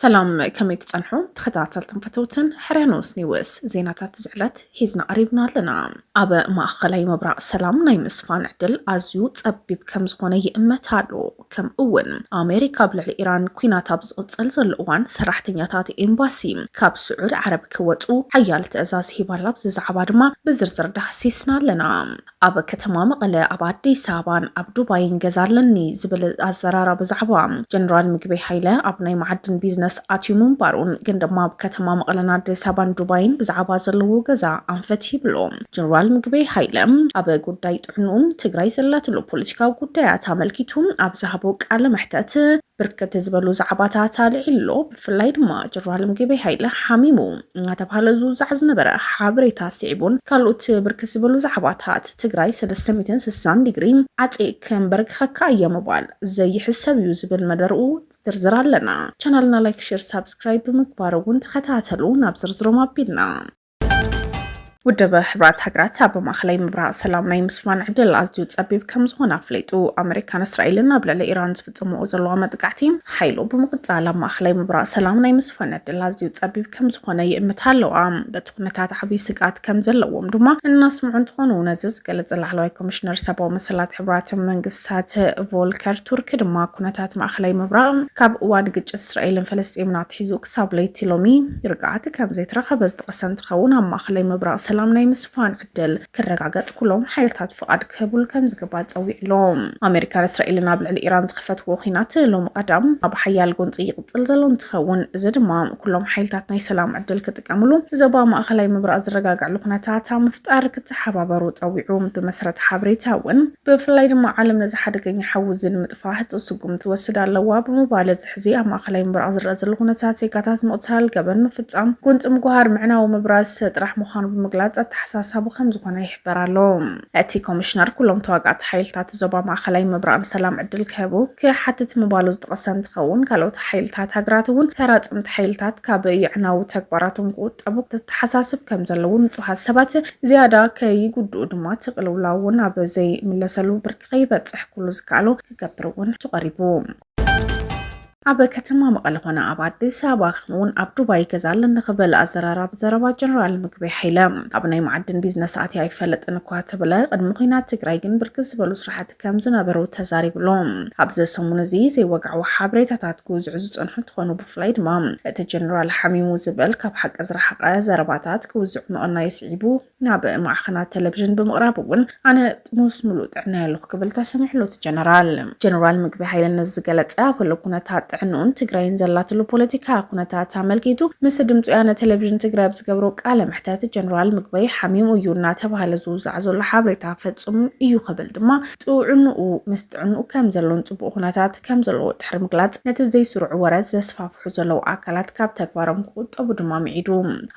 ሰላም ከመይ ትጸንሑ ተኸታተልትን ፈተውትን ሕርያኖስ ኒውስ ዜናታት ዝዕለት ሒዝና ቀሪብና ኣለና ኣብ ማእኸላይ ምብራቕ ሰላም ናይ ምስፋን ዕድል ኣዝዩ ጸቢብ ከም ዝኾነ ይእመት ኣሎ ከምኡ እውን ኣሜሪካ ኣብ ልዕሊ ኢራን ኲናት ኣብ ዝቕፅል ዘሎ እዋን ሰራሕተኛታት ኤምባሲ ካብ ስዑድ ዓረብ ክወፁ ሓያል ትእዛዝ ሂባላ። ኣብዚ ዛዕባ ድማ ብዝርዝር ዳህሲስና ኣለና። ኣብ ከተማ መቐለ፣ ኣብ ኣዲስ ኣበባን ኣብ ዱባይን ገዛ ኣለኒ ዝብል ኣዘራራ ብዛዕባ ጀነራል ምግበይ ሃይለ ኣብ ናይ መዓድን ቢዝነስ ኣትዩ ምንባሩን ግን ድማ ኣብ ከተማ መቐለን ኣዲስ ኣበባን ዱባይን ብዛዕባ ዘለዎ ገዛ ኣንፈት ይብሎ ጀነራል ምግበይ ሃይለ ኣብ ጉዳይ ን ትግራይ ዘላትሉ ፖለቲካዊ ጉዳያት ኣመልኪቱ ኣብ ዝሃቦ ቃለ መሕተት ብርክት ዝበሉ ዛዕባታት ኣልዒሉ ኣሎ። ብፍላይ ድማ ጀነራል ምግበይ ሃይለ ሓሚሙ እናተብሃለ ዝውዛዕ ዝነበረ ሓበሬታ ስዒቡን ካልኦት ብርክት ዝበሉ ዛዕባታት ትግራይ ሰለስተ ሚእትን ስሳን ዲግሪ ዓፄ ከምበርክኸካ እየ ምባል ዘይሕሰብ እዩ ዝብል መደርኡ ዝርዝር ኣለና። ቻናልና ላይክ፣ ሼር፣ ሳብስክራይብ ብምግባር እውን ተኸታተሉ። ናብ ዝርዝሮም ኣቢልና ውድብ ሕብራት ሃገራት ኣብ ማእኸላይ ምብራቕ ሰላም ናይ ምስፋን ዕድል ኣዝዩ ፀቢብ ከም ዝኾነ ኣፍሊጡ ኣመሪካን እስራኤልን ኣብ ልዕሊ ኢራን ዝፍፅምዎ ዘለዋ መጥቃዕቲ ሓይሉ ብምቕፃል ኣብ ማእኸላይ ምብራቕ ሰላም ናይ ምስፋን ዕድል ኣዝዩ ፀቢብ ከም ዝኾነ ይእምታ ኣለዋ። በቲ ኩነታት ዓብይ ስግኣት ከም ዘለዎም ድማ እናስምዑ እንትኾኑ ነዚ ዝገለፀ ላዕለዋይ ኮሚሽነር ሰብኣዊ መሰላት ሕብራት መንግስታት ቮልከር ቱርክ ድማ ኩነታት ማእኸላይ ምብራቕ ካብ እዋን ግጭት እስራኤልን ፈለስጢምን ኣትሒዙ ክሳብ ለይቲ ሎሚ ርግኣት ከም ዘይተረኸበ ዝጠቐሰ እንትኸውን ኣብ ማእኸላይ ምብራቕ ሰላም ናይ ምስፋን ዕድል ክረጋገፅ ኩሎም ሓይልታት ፍቓድ ክህቡሉ ከም ዝግባእ ፀዊዑ ኣሎ። ኣሜሪካን እስራኤልን ኣብ ልዕሊ ኢራን ዝኸፈትዎ ኲናት ሎሚ ቀዳም ኣብ ሓያል ጎንፂ ይቕፅል ዘሎ እንትኸውን እዚ ድማ ኩሎም ሓይልታት ናይ ሰላም ዕድል ክጥቀሙሉ ንዞባ ማእኸላይ ምብራቕ ዝረጋግዕሉ ኩነታት ኣብ ምፍጣር ክተሓባበሩ ፀዊዑ። ብመሰረት ሓበሬታ እውን ብፍላይ ድማ ዓለም ነዚ ሓደገኛ ሓዊ እዚ ንምጥፋእ ህፁፅ ስጉምቲ ትወስድ ኣለዋ ብምባል ሕዚ ኣብ ማእኸላይ ምብራቕ ዝረኣ ዘሎ ኩነታት ዜጋታት ምቕታል፣ ገበን ምፍፃም፣ ጎንፂ ምጉሃር፣ ምዕናው፣ ምብራዝ ጥራሕ ምዃኑ ብምግላፅ ኣተሓሳሳቢ ከምዝኾነ ይሕበር ኣሎ። እቲ ኮሚሽነር ኩሎም ተዋጋእቲ ሓይልታት ዞባ ማእኸላይ ምብራቕ ንሰላም ዕድል ክህቡ ክሓትት ምባሉ ዝጠቐሰ እንትኸውን ካልኦት ሓይልታት ሃገራት እውን ተራፀምቲ ሓይልታት ካብ የዕናዊ ተግባራቶም ክቑጠቡ ክተተሓሳስብ ከምዘለዎ ንፁሃት ሰባት ዝያዳ ከይጉድኡ ድማ እቲ ቅልውላው እውን ኣብ ዘይምለሰሉ ብርኪ ከይበፅሕ ኩሉ ዝከኣሎ ክገብር እውን ተቐሪቡ። ኣብ ከተማ መቐለ ኮነ ኣብ ኣዲስ ኣበባ ከምኡውን ኣብ ዱባይ ገዛ ኣለኒ ክብል ኣዘራራቢ ዘረባ ጀነራል ምግቢ ሓይለ ኣብ ናይ መዓድን ቢዝነስ ኣትያ ኣይፈለጥን እኳ ተብለ ቅድሚ ኩናት ትግራይ ግን ብርክት ዝበሉ ስራሕቲ ከም ዝነበሩ ተዛሪብሎ ኣብዚ ሰሙን እዚ ዘይወግዓዊ ሓበሬታታት ክውዝዑ ዝፀንሑ እንትኾኑ ብፍላይ ድማ እቲ ጀነራል ሓሚሙ ዝበል ካብ ሓቂ ዝረሓቐ ዘረባታት ክውዝዑ ምቕናዩ ስዒቡ ናብ ማዕኸናት ቴሌቪዥን ብምቕራብ እውን ኣነ ጥሙስ ምሉእ ጥዕና የለኹ ክብል ተሰሚዕሉ እቲ ጀነራል ጀነራል ምግቢ ሃይለ ነዚ ዝገለፀ ኣብ ህሉ ኩነታት ጥዕንኡን ትግራይን ዘላትሉ ፖለቲካ ኩነታት ኣመልኪቱ ምስ ድምፂ ወያነ ቴሌቪዥን ትግራይ ኣብ ዝገብሮ ቃለ መሕተት ጀነራል ምግበይ ሓሚሙ እዩ እናተባሃለ ዝውዛዕ ዘሎ ሓበሬታ ፈፁም እዩ ክብል ድማ ጥዕንኡ ምስ ጥዕንኡ ከም ዘሎን ጽቡቕ ኩነታት ከም ዘለዎ ድሕሪ ምግላጽ፣ ነቲ ዘይስሩዕ ወረ ዘስፋፍሑ ዘለዉ ኣካላት ካብ ተግባሮም ክቑጠቡ ድማ ምዒዱ።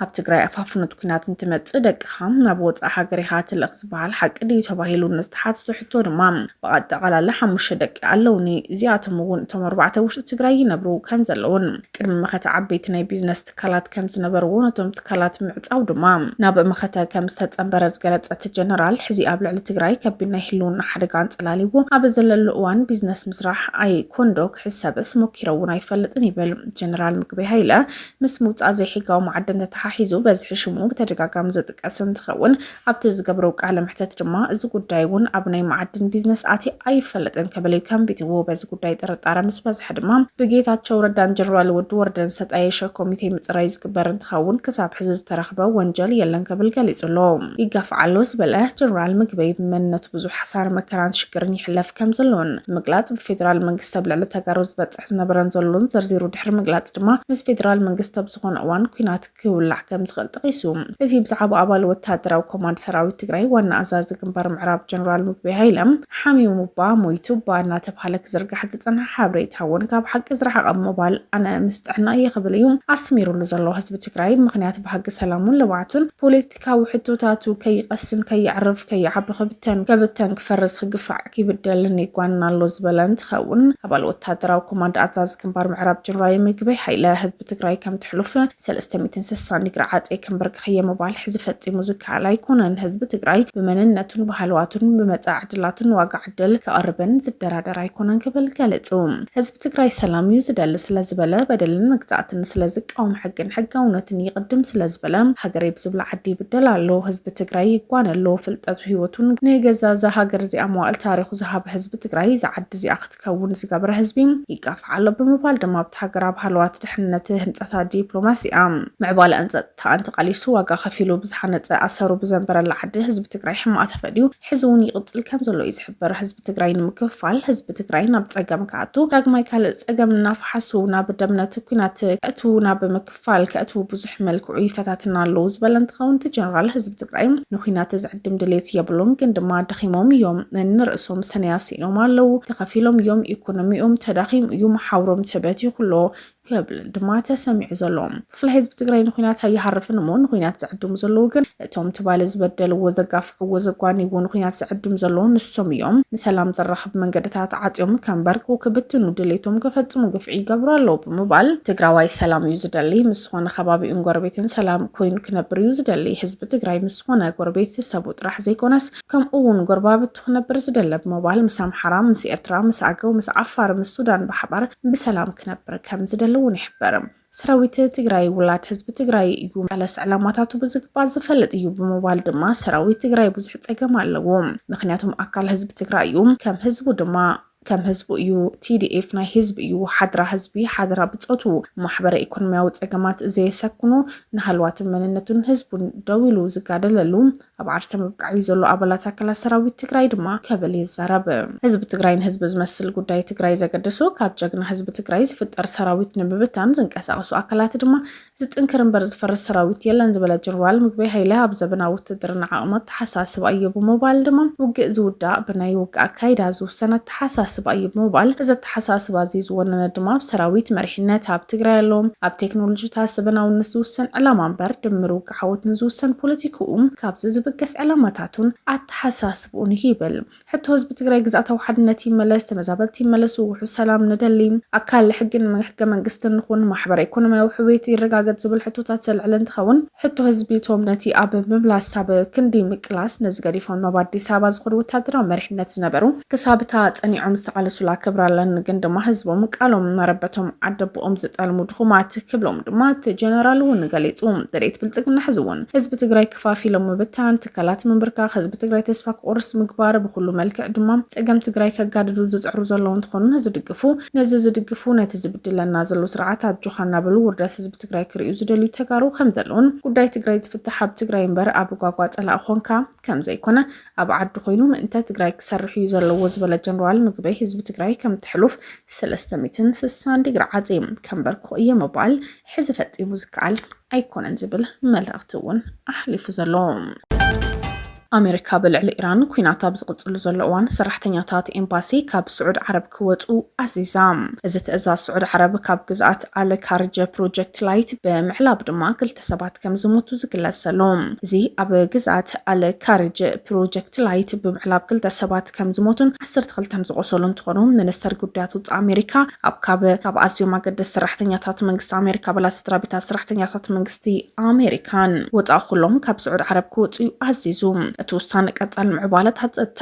ኣብ ትግራይ ኣፋፍኖት ኲናት እንትመጽእ ደቅኻ ናብ ወጻእ ሃገር ኢኻ ትልእኽ ዝበሃል ሓቂ ድዩ ተባሂሉ ንዝተሓተቶ ሕቶ ድማ ብኣጠቓላሊ ሓሙሽተ ደቂ ኣለዉኒ፣ እዚኣቶም እውን እቶም ኣርባዕተ ውሽጢ ትግራይ ይነብሩ ከም ዘለዉን ቅድሚ መኸተ ዓበይቲ ናይ ቢዝነስ ትካላት ከም ዝነበርዎ ነቶም ትካላት ምዕፃው ድማ ናብ መኸተ ከም ዝተፀምበረ ዝገለፀ እቲ ጀነራል፣ ሕዚ ኣብ ልዕሊ ትግራይ ከቢድ ናይ ህልውና ሓደጋ ኣንፀላሊዎ ኣብ ዘለሉ እዋን ቢዝነስ ምስራሕ ኣይኮንዶ ክሕሰብስ ሞኪረ እውን ኣይፈልጥን ይብል። ጀነራል ምግበይ ሃይለ ምስ ምውፃእ ዘይሕጋዊ ማዕድን ተተሓሒዙ በዝሒ ሽሙ ብተደጋጋሚ ዝጥቀስ እንትኸውን፣ ኣብቲ ዝገብሮ ቃለ መሕተት ድማ እዚ ጉዳይ እውን ኣብ ናይ መዓድን ቢዝነስ ኣትየ ኣይፈልጥን ክብል እዩ ከንቢትዎ። በዚ ጉዳይ ጥርጣረ ምስ በዝሐ ድማ ብጌታቸው ረዳን ጀነራል ወዲ ወረደን ዝተጣየሸ ኮሚቴ ምፅራይ ዝግበር እንትኸውን ክሳብ ሕዚ ዝተረኽበ ወንጀል የለን ክብል ገሊፁ ኣሎ። ይጋፋዕ ኣሎ ዝበለ ጀነራል ምግበይ ብመንነቱ ብዙሕ ሓሳረ መከራን ሽግርን ይሕለፍ ከምዘሎን ብምግላፅ ብፌደራል መንግስቲ ኣብ ልዕሊ ተጋሩ ዝበፅሕ ዝነበረን ዘሎን ዘርዚሩ ድሕሪ ምግላፅ ድማ ምስ ፌደራል መንግስቲ ኣብ ዝኾነ እዋን ኲናት ክውላዕ ከም ዝኽእል ጠቒሱ። እቲ ብዛዕባ ኣባል ወታደራዊ ኮማንድ ሰራዊት ትግራይ ዋና ኣዛዚ ግንባር ምዕራብ ጀነራል ምግበይ ሃይለ ሓሚሙ'ባ ሞይቱ'ባ እናተብሃለ ክዝርጋሕ ዝጸንሐ ሓበሬታ እውን ካብ ሓቂ ዝረሓቐ ብምባል ኣነ ምስ ጥዕናይ እየ ክብል እዩ ኣስሚሩሉ ዘሎ። ህዝቢ ትግራይ ምኽንያት ባህጊ ሰላሙን ልምዓቱን ፖለቲ ካብ ሕቶታቱ ከይቐስን ከየዕርፍ ከይዓቢ ክብተን ከብተን ክፈርስ ክግፋዕ ክይብደልን ይጓንን ኣሎ ዝበለ እንትኸውን ኣባል ወታደራዊ ኮማንድ ኣዛዚ ግንባር ምዕራብ ጀነራል ምግበይ ሓይለ ህዝቢ ትግራይ ከም ትሕሉፍ ሰለስተ ሚእትን ስሳን ዲግሪ ዓፄ ከምበርክኸየ ምባል ሕዚ ፈፂሙ ዝከኣል ኣይኮነን። ህዝቢ ትግራይ ብመንነቱን ባህልዋቱን ብመፃኢ ዕድላቱን ዋጋ ዕድል ክቐርብን ዝደራደር ኣይኮነን ክብል ገለጹ። ህዝቢ ትግራይ ሰላም እዩ ዝደሊ ስለዝበለ፣ በደልን መግዛእትን ስለዝቃወም፣ ሕግን ሕጋውነትን ይቕድም ስለዝበለ፣ ሃገረይ ብዝብላ ዓዲ ይብደል ኣሎ። ህዝቢ ትግራይ ይጓነ ኣሎ። ፍልጠቱ ህይወቱን ንገዛ እዛ ሃገር እዚኣ መዋእል ታሪኹ ዝሃበ ህዝቢ ትግራይ እዛ ዓዲ እዚኣ ክትከውን ዝገበረ ህዝቢ ይጋፋዕ ኣሎ ብምባል ድማ ኣብታ ሃገር ኣብ ሃለዋት ድሕንነት፣ ህንፀታ ዲፕሎማሲኣ፣ ምዕባለኣን ፀጥታኣን ተቓሊሱ ዋጋ ከፊሉ ብዝሃነፀ ኣሰሩ ብዘንበረላ ዓዲ ህዝቢ ትግራይ ሕማቕ ተፈድዩ ሕዚ እውን ይቕፅል ከምዘሎ እዩ ዝሕበር። ህዝቢ ትግራይ ንምክፍፋል፣ ህዝቢ ትግራይ ናብ ፀገም ክኣቱ፣ ዳግማይ ካልእ ፀገም እናፈሓሱ ናብ ደምነት ኩናት ከእትዉ፣ ናብ ምክፋል ከእትዉ ብዙሕ መልክዑ ይፈታትና ኣለዉ ዝበለ እንትኸውን እቲ ጀነራል ህዝቢ ትግራይ ንኩናት ዝዕድም ድሌት የብሉን ግን ድማ ደኺሞም እዮም፣ ንርእሶም ሰነያ ስኢኖም ኣለዉ፣ ተኸፊሎም እዮም፣ ኢኮኖሚኦም ተዳኺሙ እዩ፣ መሓውሮም ተበቲኹ ኣሎ፣ ክብል ድማ ተሰሚዑ ዘሎ ክፍለ ህዝቢ ትግራይ ንኩናት ኣይሃርፍን እሞ ንኩናት ዝዕድሙ ዘለዉ ግን እቶም ትባለ ዝበደልዎ ዘጋፍዕዎ ዘጓንይዎ ንኩናት ዝዕድም ዘለዉ ንሶም እዮም ንሰላም ዘራኽብ መንገድታት ዓፅዮም ከንበርኩ ክብትኑ ድሌቶም ክፈፅሙ ግፍዒ ይገብሩ ኣለዉ ብምባል ትግራዋይ ሰላም እዩ ዝደሊ ምስ ዝኾነ ከባቢኡን ጎረቤትን ሰላም ኮይኑ ክነብር እዩ ዝደሊ ህዝቢ ትግራይ ምስ ዝኾነ ጎረቤት ሰቡ ጥራሕ ዘይኮነስ ከምኡ ውን ጎረባብቲ ክነብር ዝደለ ብምባል ምስ ኣምሓራ፣ ምስ ኤርትራ፣ ምስ ኣገው፣ ምስ ዓፋር፣ ምስ ሱዳን ብሓባር ብሰላም ክነብር ከም ዝደሊ ውን ይሕብር። ሰራዊት ትግራይ ውላድ ህዝቢ ትግራይ እዩ፣ መለስ ዕላማታቱ ብዝግባእ ዝፈልጥ እዩ ብምባል ድማ ሰራዊት ትግራይ ብዙሕ ፀገም ኣለዎ፣ ምኽንያቱም ኣካል ህዝቢ ትግራይ እዩ፣ ከም ህዝቡ ድማ ከም ህዝቡ እዩ ቲዲኤፍ ናይ ህዝቢ እዩ ሓድራ ህዝቢ ሓድራ ብፆቱ ማሕበረ ኢኮኖሚያዊ ፀገማት ዘየሰክኑ ንሃልዋትን መንነቱን ህዝቡን ደው ኢሉ ዝጋደለሉ ኣብ ዓርሰ ምብቃዕ እዩ ዘሎ ኣባላት ኣካላት ሰራዊት ትግራይ ድማ ከብል ይዛረብ ህዝቢ ትግራይ ንህዝቢ ዝመስል ጉዳይ ትግራይ ዘገደሱ ካብ ጀግና ህዝቢ ትግራይ ዝፍጠር ሰራዊት ንምብታን ዝንቀሳቀሱ ኣካላት ድማ ዝጥንክር እምበር ዝፈርስ ሰራዊት የለን ዝበለ ጀነራል ምግበይ ሃይለ ኣብ ዘበናዊ ውትድርና ዓቕሚ ኣተሓሳስባ እዩ ብምባል ድማ ውግእ ዝውዳእ ብናይ ውግእ ኣካይዳ ዝውሰን ኣተሓሳስባ እዩ ብምባል እዚ ኣተሓሳስባ እዚ ዝወነነ ድማ ኣብ ሰራዊት መሪሕነት ኣብ ትግራይ ኣሎ ኣብ ቴክኖሎጂታት ዘበናውነት ዝውሰን ዕላማ እምበር ድምር ውግእ ዓወትን ዝውሰን ፖለቲክኡ ካብዚ ዝብገስ ዕላማታቱን ኣተሓሳስብኡን እዩ ይብል። ሕቶ ህዝቢ ትግራይ ግዝኣታዊ ሓድነት ይመለስ፣ ተመዛበልቲ ይመለሱ፣ ውሑስ ሰላም ንደሊ፣ ኣካል ሕግን ሕገ መንግስትን ንኹን፣ ማሕበረ ኢኮኖሚያዊ ሕውየት ይረጋገፅ ዝብል ሕቶታት ዘልዕል እንትኸውን ሕቶ ህዝቢ እቶም ነቲ ኣብ ምምላስ ኣብ ክንዲ ምቅላስ ነዚ ገዲፎም ናብ ኣዲስ ኣበባ ዝኸዱ ወታደራዊ መሪሕነት ዝነበሩ ክሳብ እታ ፀኒዖም ዝተቓለሱላ ክብሪ ኣለኒ ግን ድማ ህዝቦም ቃሎም መረበቶም ዓደቦኦም ዝጠልሙ ድኹማት ክብሎም ድማ እቲ ጀነራል እውን ገሊፁ። ደሌት ብልፅግና ሕዚ እውን ህዝቢ ትግራይ ክፋፊሎም ምብታን፣ ትካላት ምንብርካኽ ህዝቢ ትግራይ ተስፋ ክቑርስ ምግባር ብኹሉ መልክዕ ድማ ፀገም ትግራይ ከጋድዱ ዝፅዕሩ ዘለዉ እንትኾኑ ነዚ ድግፉ ነዚ ዝድግፉ ነቲ ዝብድለና ዘሎ ስርዓት ኣጆኻ እናበሉ ውርደት ህዝቢ ትግራይ ክርእዩ ዝደልዩ ተጋሩ ከምዘለዉን ጉዳይ ትግራይ ዝፍታሕ ኣብ ትግራይ እምበር ኣብ ጓጓ ፀላእ ኾንካ ከምዘይኮነ ኣብ ዓዱ ኮይኑ ምእንተ ትግራይ ክሰርሕ እዩ ዘለዎ ዝበለ ጀነራል ምግበይ ህዝቢ ትግራይ ከምቲ ሕሉፍ ሰለስተ ሚእትን ስሳን ዲግሪ ዓፂ ከምበርኩ እየ ምባል ሕዚ ፈፂሙ ዝከኣል ኣይኮነን ዝብል መልእኽቲ እውን ኣሕሊፉ ዘሎ። ኣሜሪካ ብልዕሊ ኢራን ኩናት ኣብ ዝቕፅሉ ዘሎ እዋን ሰራሕተኛታት ኤምባሲ ካብ ስዑድ ዓረብ ክወፁ ኣዚዛ። እዚ ትእዛዝ ስዑድ ዓረብ ካብ ግዝኣት ኣል ካርጀ ፕሮጀክት ላይት ብምዕላብ ድማ ክልተ ሰባት ከም ዝሞቱ ዝግለጽ ዘሎ እዚ ኣብ ግዝኣት ኣል ካርጀ ፕሮጀክት ላይት ብምዕላብ ክልተ ሰባት ከም ዝሞቱን ዓሰርተ ክልተ ዝቖሰሉ እንትኾኑ ሚኒስተር ጉዳያት ውፃኢ ኣሜሪካ ኣብ ካብ ካብ ኣዝዮም ኣገደስ ሰራሕተኛታት መንግስቲ ኣሜሪካ ኣባላት ስድራቤታት ሰራሕተኛታት መንግስቲ ኣሜሪካን ወፃኢ ኩሎም ካብ ስዑድ ዓረብ ክወፅኡ እዩ ኣዚዙ። እቲ ውሳነ ቀፃሊ ምዕባለታት ፀጥታ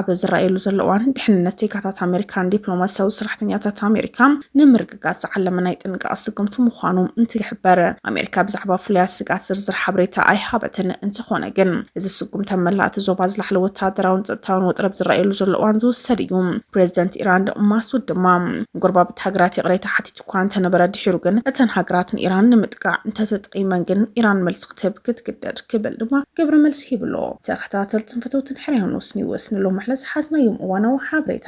ኣብ ዝረኣየሉ ዘሎ እዋን ድሕንነት ዜጋታት ኣሜሪካን ዲፕሎማሲያዊ ሰራሕተኛታት ኣሜሪካ ንምርግ ስጋት ዝዓለመ ናይ ጥንቃቐ ስጉምቲ ምዃኑ እንትይሕበር ኣሜሪካ ብዛዕባ ፍሉያት ስጋት ዝርዝር ሓበሬታ ኣይሃበትን። እንተኾነ ግን እዚ ስጉምቲ ኣብ መላእ እቲ ዞባ ዝላዕለ ወተሃደራውን ጸጥታውን ወጥሪ ኣብ ዝረኣየሉ ዘሎ እዋን ዝውሰድ እዩ። ፕሬዚደንት ኢራን ማሱድ ድማ ንጎረባብቲ ሃገራት ይቕሬታ ሓቲቱ እኳ እንተነበረ ድሒሩ ግን እተን ሃገራት ንኢራን ንምጥቃዕ እንተተጠቂመን ግን ኢራን መልሲ ክትህብ ክትግደድ ክብል ድማ ግብረ መልሲ ሂብሎ። ተኸታተልትን ፈተውትን ሕርያ ኑስ ኒውስ ንሎሚ ዕለት ዝሓዝናዮም እዋናዊ ሓበሬታ